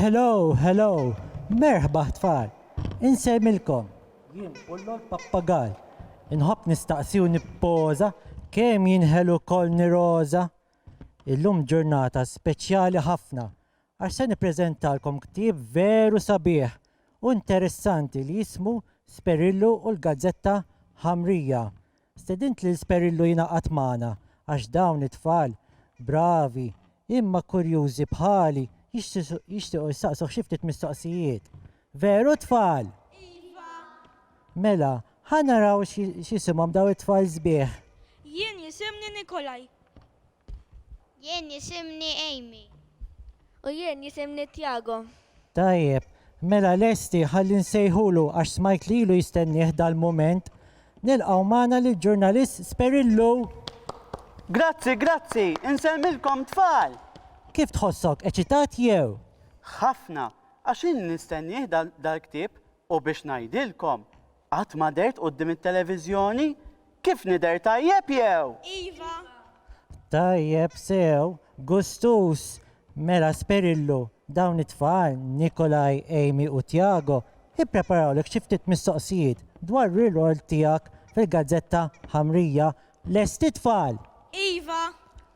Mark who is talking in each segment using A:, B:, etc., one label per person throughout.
A: Hello, hello, merħba tfal, insejmilkom, jien bullo l-pappagal, inħobb nistaqsi u nippoza, kemm jinħelu kol niroza. Illum ġurnata speċjali ħafna, għax se nippreżentalkom ktieb veru sabiħ u nteressanti li jismu Sperillu u l-Gazzetta Ħamrija. Stedint lil Sperillu jingħaqad magħna għax dawn it-tfal bravi imma kurjużi bħali jixtiequ jsaqsuh xi ftit mistoqsijiet. Veru tfal? Iva!
B: Mela,
A: ħa naraw x'jisimhom dawn it-tfal sbieħ. Jien
B: jisimni Nikolaj.
C: Jien jisimni Amy. U
D: jien jisimni Tiago. Tajjeb,
A: mela lesti ħalli nsejħulu għax smajt li ilu jistennieh dal-mument. Nilqgħu magħna lill-ġurnalist Sperillo! Grazzi,
E: grazzi! Insellmilkom tfal! Kif tħossok,
A: eċitat jew? Ħafna,
E: għax ilni nistennieh dal-ktieb U biex ngħidilkom, qatt ma dehrt quddiem it-televiżjoni? Kif nidher tajjeb jew? Iva!
A: Tajjeb sew, gustuż! Mela Sperillu, dawn it-tfal, Nikolai, Amy u Tiago, ippreparawlek xi ftit mistoqsijiet dwar rirol tiegħek fil-gazzetta ħamrija. Lesti tfal? Iva!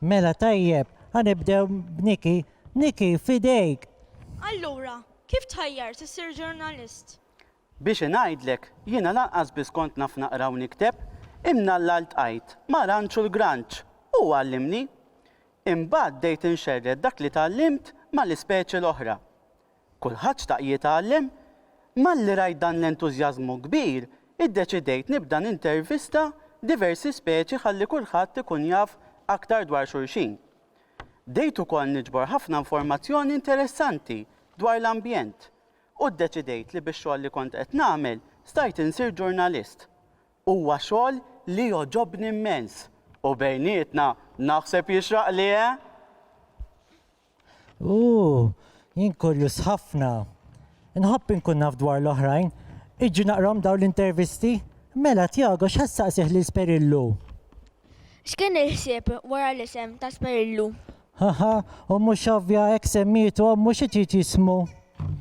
B: Mela
A: tajjeb, ħa nibdew b'Niki. Niki, f'idejk! Allura,
B: Kif tħajjart issir ġurnalist? Biex
E: ingħidlek, jiena lanqas biss kont naf naqra u nikteb, imnalla ltqajt ma' Ranċul Granċ u hu għallimni. Imbagħad bdejt inxerred dak li tgħallimt mal-ispeċi l-oħra. Kulħadd xtaq jitgħallem. Malli rajt dan l-entużjażmu kbir, iddeċidejt nibda nintervista diversi speċi ħalli kulħadd ikun jaf aktar dwar xulxin. Bdejt ukoll niġbor ħafna informazzjoni interessanti dwar l-ambjent u ddeċidejt li bix-xogħol li kont qed nagħmel stajt insir ġurnalist. Huwa xogħol li jogħġobni mmens u bejnietna naħseb jixraqli, eh?
A: Ooh, jien kurjuż ħafna. Inħobb inkun naf dwar l-oħrajn. Iġġi naqrahom dawn l-intervisti? Mela, Tiago, x'ħa ssaqsih lil Sperillu?
D: X'kien il-ħsieb wara l-isem Tasperillu? Haha,
A: u mhux ovvja hekk semmietu ommu xi trid jismu?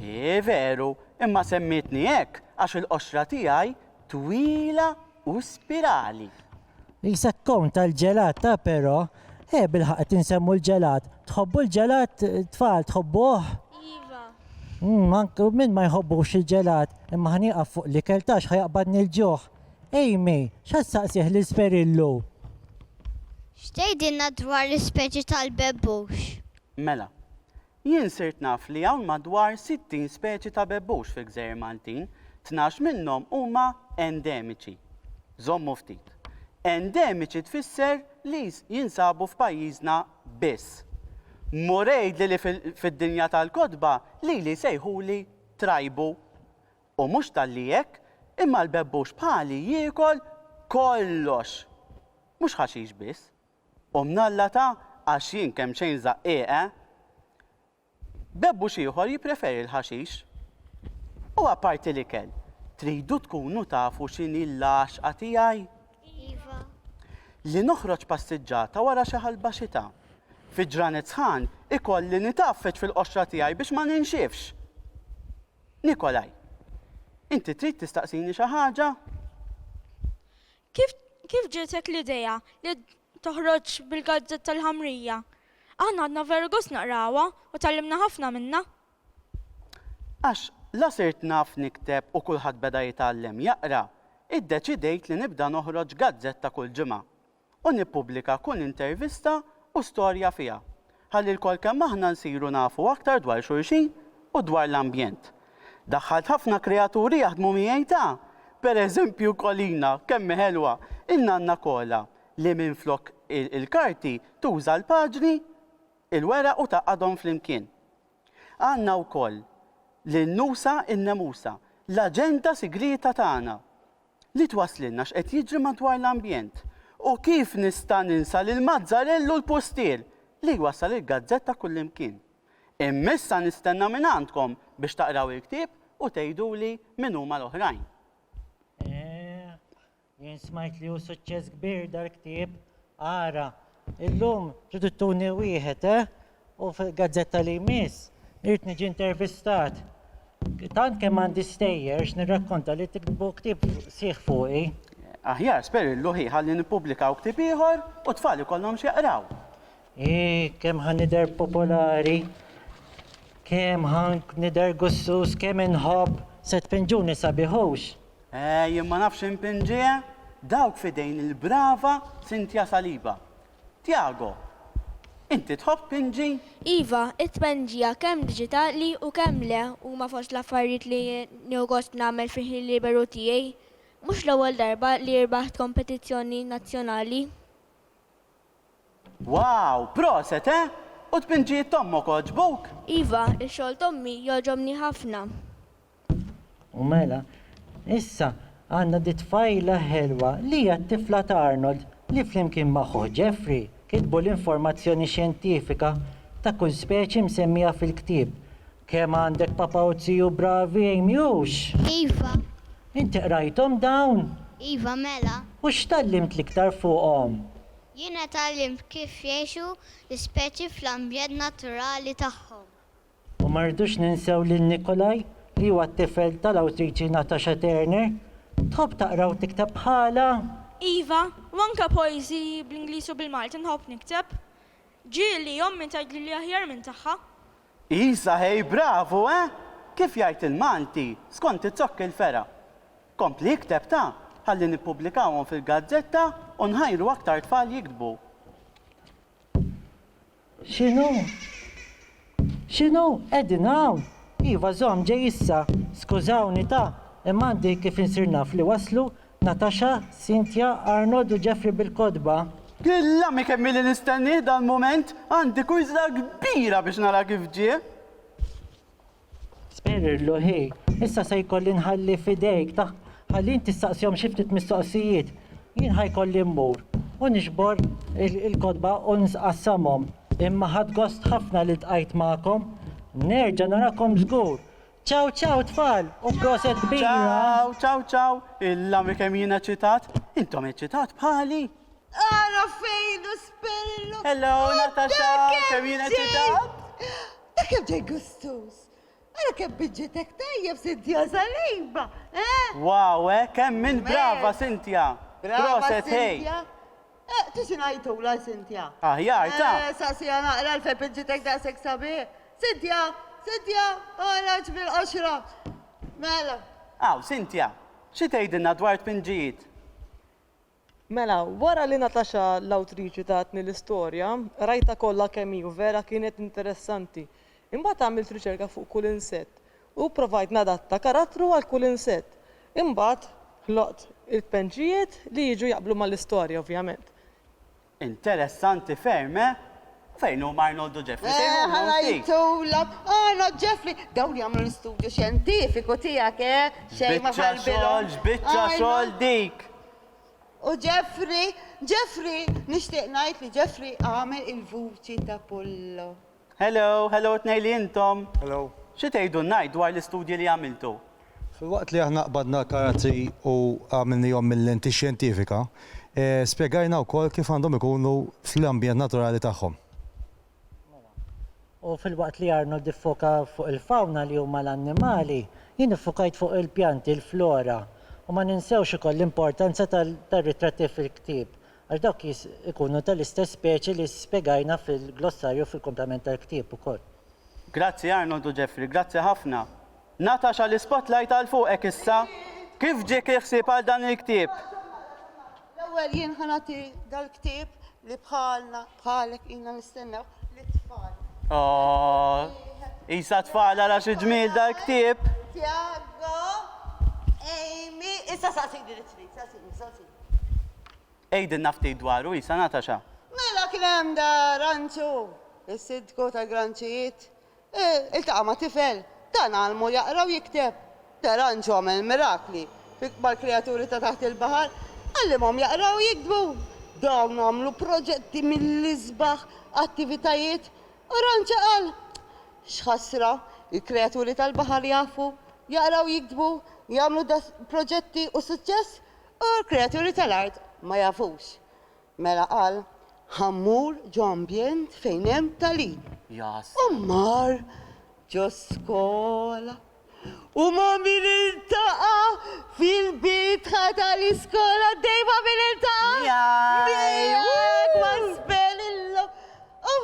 A: Hi veru,
E: imma semmietni hekk għax il-qoxra tiegħi twila u spirali. Qisek
A: kon tal-ġelat ta' però, eh bilħaqq qed insemmu l-ġelat. Tħobbu l-ġelat tfal, tħobbuh?
D: Iva. Umm, anke
A: min ma jħobbux il-ġelat, imma ħa nieqaf fuq l-ikel ta' x'ħa jaqbadni l-ġuħ. Amy, x'għad saqsih lil Sferillu? X'tgħidilna
C: dwar l-ispeċi tal-bebbux? Mela.
E: Jien sirt naf li hawn madwar 60 speċi ta' bebbux fil-Gżejjer Maltin, tnax minnhom huma endemiċi. Żommu ftit. Endemiċi tfisser li jinsabu f'pajjiżna biss. Mur għidli li fid-dinja tal-kotba lili jsejħuli trajbu. U mhux talli hekk, imma l-bebbux bħali jiekol kollox! Mhux ħaxix biss. U mnalla ta' għax jien kemmxejn żaqqieq, eh? Bebbux ieħor jippreferi l-ħaxix. U apparti l-ikel, tridu tkunu tafu x'inhi l-għaxqa tiegħi? Iva.
C: Li
E: noħroġ passiġġata wara xi ħalba xita. Fi ġranet sħan, ikolli nitgħaffeġ fil-qoxra tiegħi biex ma ninxifx! Nikolai, inti trid tistaqsini xi ħaġa? Kif
B: kif ġietek l-idea li toħroġ bil-gazzetta l-ħamrija? Aħna ħadna veru gost naqrawha u tgħallimna ħafna minnha.
E: Għax la sirt naf nikteb u kulħadd beda jitgħallem jaqra, iddeċidejt li nibda noħroġ gazzetta kull ġimgħa. u nippubblika kull intervista u storja fiha, ħalli lkoll kemm aħna nsiru nafu aktar dwar xulxin u dwar l-ambjent. Daħħalt ħafna kreaturi jaħdmu miegħi ta', per eżempju Kolina, kemm hi ħelwa, in-nanna Kola, li minflok il-karti tuża l-paġni, il-weraq u tgħaqqadhom flimkien. Għandna wkoll lil Nusa in-nemusa, l-aġenta sigrieta tagħna, Li twasslilna x'qed jiġri madwar l-ambjent. U kif nista' ninsa lill-mazzarell u l-pustier li jwassal il-gazzetta kullimkien. Imma issa nistenna mingħandkom biex taqraw il-ktieb u tgħiduli min huma l-oħrajn. Eeh,
A: jien smajt li hu suċċess kbir dal-ktieb. Ara, illum tridu tuni wieħed, eh? U f'gazzetta li jmiss irid niġi intervistat. Tant kemm għandi stejjer x'nirrakkonta li tiktbu ktieb sħiħ fuqi. Aħjar
E: sperillu hi ħalli nippubblikaw ktieb ieħor u t-tfal ikollhom x'jaqraw. Ii,
A: kemm ħa nidher popolari, kemm ħa nidher gussus, kemm inħobb, se tpinġuni sabiħ hux. Eh, jien ma
E: nafx inpinġiha, dawk f'idejn il-brava Cynthia Saliba. Tiago, Inti tħobb Pinji? Iva,
D: it-tpendija kemm diġitali u kemm le huma fost l-affarijiet li nieħu gost nagħmel fil-ħin liberu tiegħi. Mhux l-ewwel darba li rbaħt kompetizzjoni nazzjonali.
E: Wow! Proset, eh! U t-tpendjijiet t'ommok għoġbuk? Iva, ix-xogħol
D: t'ommi jogħġobni ħafna.
A: U mela, issa għandna di tfajla ħelwa li hija t-tifla ta' Arnold li flimkien ma' ħuh Jeffrey kitbu l-informazzjoni xjentifika ta' kull speċi msemmija fil-ktieb. Kemm għandek papa u ziju bravi, Amy, hux? Iva.
C: Inti
A: qrajthom dawn? Iva, mela.
C: U x'tgħallimt
A: l-iktar fuqhom? Jiena
C: tgħallimt kif jgħixu l-ispeċi fl-ambjent naturali tagħhom. U ma
A: rridux ninsew lil Nikolai li huwa t-tifel tal-awtriċi Natasha Turner. Tħobb taqra u tikteb bħalha? Iva,
B: u anke poeżiji bl-Ingliż u bil-Malti nħobb nikteb. Ġieli ommi tgħidli li aħjar minn tagħha. Isa
E: ħej bravu eh! Kif jgħid il-Malti, skont it-zokk il-fergħa. Kompli ikteb ta, ħalli nippublikawhom fil-gazzetta u nħajru aktar tfal jiktbu.
A: X'inhu? X'inhu? Qegħdin hawn? Iva, żomm, ġej issa. Skużawni, ta, imma għandi kif insir naf li waslu Natasha, Cynthia, Arnold u Jeffrey bil-kotba. Illami
E: kemm ili nistennieh dal-mument! Għandi kwiżla kbira biex nara kif ġie!
A: Sperrirlu, Hi, issa se jkolli nħalli f'idejk ta' ħalli int tistaqsihom xi ftit mistoqsijiet. Jien ħa jkolli mmur u niġbor il-kotba u nsqassamhom. Imma ħadt gost ħafna li ltqajt magħkom. Nerġa' narakom żgur. Ċaw ċaw tfal u proset kbira! Ċaw, ċaw ċaw!
E: Illa mi kemm jien eċitat! Intom eċitat bħali? Ara
F: fejn hu Sperrirlu! Hello Natasha,
E: kemm jien eċitat! Ara kemm ġej
F: gustuż! Ara kemm biġġitek tajjeb, Cynthia Saliba, eh! Wow,
E: eh, kemm int brava, Cynthia! Proset, hey! Eh, tixi
F: ngħajtula, Cynthia? Aħjar, ta! Eh,
E: saqsiha naqra għalfejn
F: biġġitek daqshekk sabiħ. Cynthia, Cynthia, toħroġ mill-qoxra. Mela. Aw, Cynthia,
E: xi tgħidilna dwar tpinġijiet?
G: Mela, wara li Natasha l-awtriċi tatni l-istorja, qrajtha kollha kemm hi u vera kienet interessanti. Imbagħad għamilt riċerka fuq kull insett u pprovajt nadatta karattru għal kull insett. Imbagħad ħloqt il-kpenċijiet li jiġu jaqblu mal-istorja, ovvjament.
E: Interessanti ferm, eh? U fejn huma Arnold u Jeffrey? Sejħulhom ftit. Eħe
F: ngħidulok, Arnold, Jeffrey, dawn jagħmlu l-istudju xjentifiku tiegħek, eh? Xejn ma ħarbirhom. X'biċċa xogħol, x'biċċa xogħol
E: dik! U
F: Jeffrey? Jeffrey, nixtieq ngħid li Jeffrey għamel il-vuċi t'Apollo. Hello, hello
E: t-tnejn li intom. Hello. Xi tgħidu
H: ngħid
E: dwar l-istudji li għamiltu? Filwaqt li aħna
H: qbadna l-karati u għamilnihom mil-lenti xjentifika, spjegajna wkoll kif għandhom ikunu fl-ambjent naturali tagħhom. Mela,
A: u filwaqt li Arnold iffoka fuq il-fawna li huma l-annimali, jien iffokajt fuq il-pjanti, il-flora. U ma ninsewx ukoll l-importanza tar-ritratti fil-ktieb, Għax dawk jis ikunu ta' l-istess speċi li spjegajna fil-glossarju fil-kumplament tal-ktieb ukoll. Grazzi
E: Arnold u Jeffrey, grazzi ħafna. Natasha l-ispotlight għal fuqek issa. Kif ġiek il-ħsieb għal dan il-ktieb?
F: L-ewwel jien ħa nagħti dal-ktieb li bħalna, bħalek ilna nistennew lit-tfal. Oh,
E: isa tfal ara xi ġmiel dal-ktieb. Tiago,
F: Amy, issa saqsini li trid, saqsini, saqsini.
E: Għidilna ftit dwaru, Isa, Natasha. Mela kien hemm
F: da Ranċu, is-Sindku tal-Granċijiet, iltaqa' ma' tifel, dan għallmu jaqra u jikteb. Da Ranċu għamel mirakli mal-krijaturi ta' taħt il-baħar, għallimhom jaqraw u jiktbu. Dawn għamlu proġetti mill-isbaħ, attivitajiet, u Ranċa qal, X'ħasra, il-krijaturi tal-baħar jafu jaqraw u jiktbu, jagħmlu da proġetti u suċċess, U l-kreaturi tal-art ma jafux. Mela qal, Ħa mmur ġo ambjent fejn hemm tagħlim. Ja s-. U mar ġo skola. U ma' min iltaqa'? Fil-bitħa tal-iskola għaddej ma' min iltaqa'? Miegħek! Ma' Sperillo! U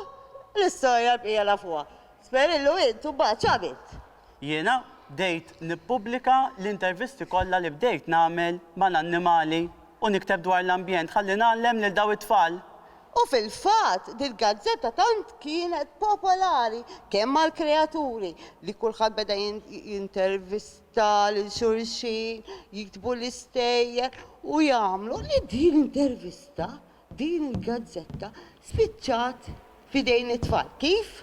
F: l-istorja l-bqija nafuha. Sperillo int imbagħad x'għamilt? Jiena
E: bdejt nippubblika l-intervisti kollha li bdejt nagħmel mal-annimali u nikteb dwar l-ambjent ħalli ngħallem lil dawn it-tfal. U fil-fatt,
F: dil-gazzetta tant kienet popolari kemm mal-kreaturi, li kulħadd beda jintervista lil xulxin, jiktbu l-istejjer u jagħmlu li din l-intervista, din il-gazzetta, spiċċat f'idejn it-tfal. Kif?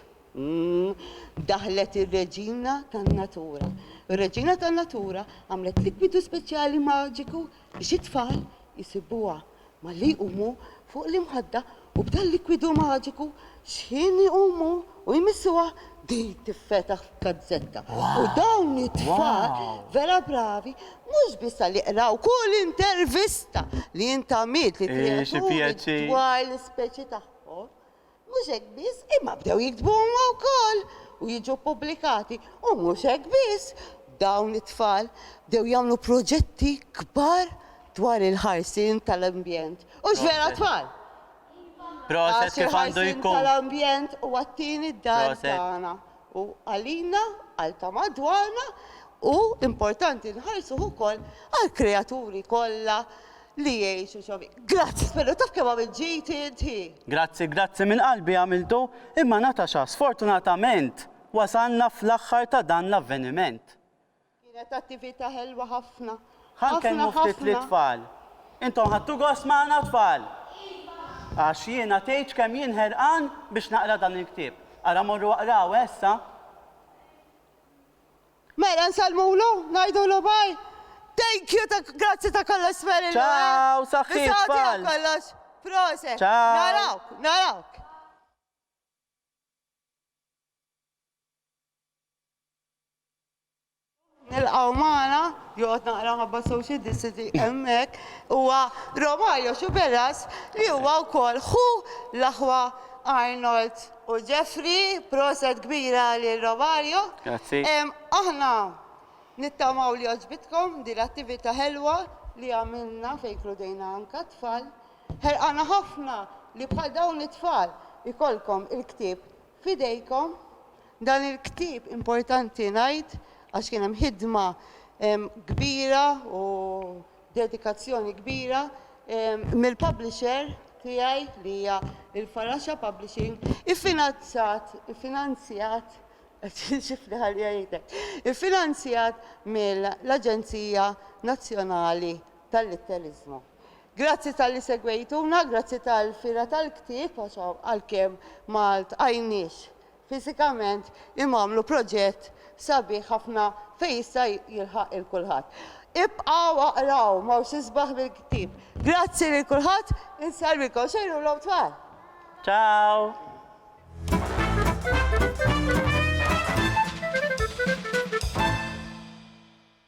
F: Daħlet ir-Reġina tan-Natura. Ir-Reġina tan-Natura għamlet likwidu speċjali maġiku biex it-tfal isibuha malli jqumu fuq l-imħadda u b'dal-likwidu maġiku x'ħin iqumu u jmissuha din tiffetaħ f'gazzetta. U dawn it-tfal vera bravi mhux biss għalli qraw kull intervista li int għamilt lill-kreaturi dwar l-ispeċi tagħhom, Mhux hekk biss, imma bdew jiktbu huma wkoll u jiġu ppubblikati. U mhux hekk biss, dawn it-tfal bdew jagħmlu proġetti kbar dwar il-ħarsien tal-ambjent. Hux vera tfal? Proset
E: kif għandu jkun. Għax il-ħarsien tal-ambjent huwa
F: t-tieni dar tagħna. u għalina, għal ta' madwarna, u importanti nħarsu ukoll għall-kreaturi kollha li jgħixu xi fih. Grazzi Spinnu, taf kemm għamilt ġid inti! Grazzi, grazzi minn
E: qalbi għamiltu, imma Natasha, sfortunatament wasalna fl-aħħar ta' dan l-avveniment. Kienet
F: attivita ħelwa ħafna. Ħa nkellmu ftit
E: lit-tfal. Intom ħadtu gost magħna tfal? Iva! Għax jiena tgħidx kemm jien ħerqan biex naqra dan il-ktieb. Ara morru aqrawh eh issa.
F: Mela nsellmulu? Ngħidulu bye? Thank you ta' grazzi ta' kollox Marilou. Ciao saħħiet
E: tfal. Bis-saħħa tiegħek kollox.
F: Proset. Ciao. Narawk,
E: narawk.
F: nilqgħu magħna, joqgħod naqra ħabba social distancing hemmhekk, huwa Romario Sciberras li huwa wkoll ħu l-aħwa Arnold u Jeffrey, proset kbira lil Romario. Grazzi.
E: Aħna
F: nittamaw li għoġbitkom din l-attività ħelwa li għamilna fejn kludejna anke t-tfal. Ħerqana ħafna li bħal dawn it-tfal ikollkom il-ktieb F'idejkom dan il-ktieb importanti ngħid għax kien hemm ħidma kbira u dedikazzjoni kbira mill-publisher tiegħi li hija l-Faraxa Publishing iffinanzjat iffinanzjat iffinanzjat mill-Aġenzija Nazzjonali tal-litteriżmu. Grazzi talli segwejtuna, grazzi tal-fira tal-ktieb għax għalkemm ma ltqajniex fiżikament imma għamlu proġett sabiħ ħafna fejn jista' jilħaq 'il kulħadd. Ibqgħu aqraw m'hawn xi sbaħ mill-ktieb. Grazzi lil kulħadd, insellmikom xejrulhom tfal.
E: Ciao!